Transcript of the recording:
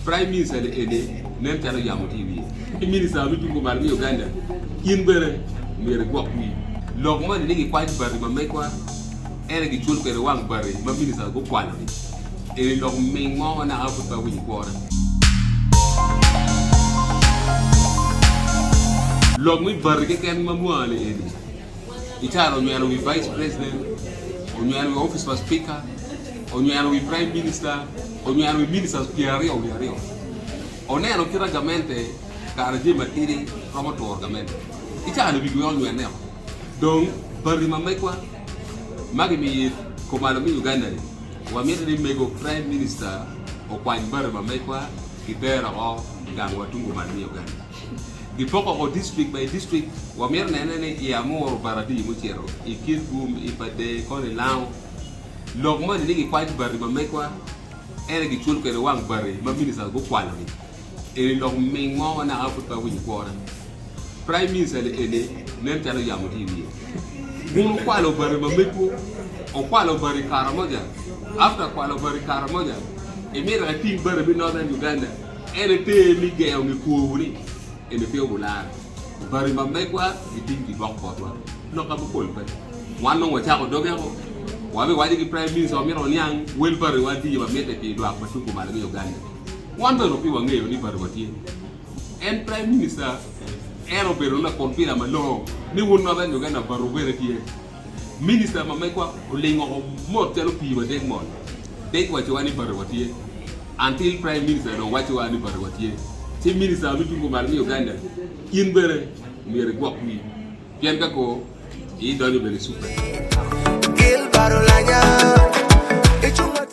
Prime minister ni eni nen calo oyamo tye i wiye. I minister me tung kumalo me Uganda in bene myero igwok wii. Lok moni ni gikwanyo bati ma megwa ene gicul kwede wang bati ma minister gukwalo ni eni lok ming mo ma naka pud pe awinyo i kwona. Lok me bati keken ma mwaka ni eni icara onyweno wii vice president, onyweno wii office pa speaker, onyweno wii prime minister, Onyweno wi ministers pyer aryo wiye aryo. Oneno kite gamente kare jami matidi romo turo gamente. Icano wigi wek onywene o. Dong bati ma megwa ma gimiyo i kumalo me Uganda ni, wamito ni mego prime minister okwany bati ma megwa giter oko gang wa tung kumalo me Uganda. Gipoko oko district by district. Wamito nene ni i Amuru bati adi mucito, i Kitgum, i Padee, koni Lango. Lok moni ni gikwac bati pa megwa ento gicwol kwede wang bati ma minisita gukwalo-ni eni lok ming mo ma naka pud pe awinyo kwone. Praim Minisita-ni eni nen calo yamo tye i wiye. Wun wukwalo bati pa megwu, wukwalo bati i Karamoja, afta kwalo bati i Karamoja imito iting bati me Northern Uganda ento iter me gengo nge kwowu-ni. Eni pe obulara. Bari ma megwa gitic ki gwok botwa. Loka mapol pe. Wan dong wacako dogeko. Wa me waco ki Prime Minister wa mito waniang wel bari wa diye wa mite pi lwak ma tugo malo me Uganda. Wan bene opi wa ngeyo ni bari wa tye. En Prime Minister en obedo na kun pila malongo ni wun ma bene Uganda bari wa bene tye. Minista ma megwa oling oko mot calo pii wadek mol. Dec wacowa ni bati watye. Until prime minister dong wacowa ni bati watye. Ci minista ma micung kumalo me Uganda in bene myero igwok wii pien ka kor idonyo bene i cukka. Gilbert Olanya, icung matek.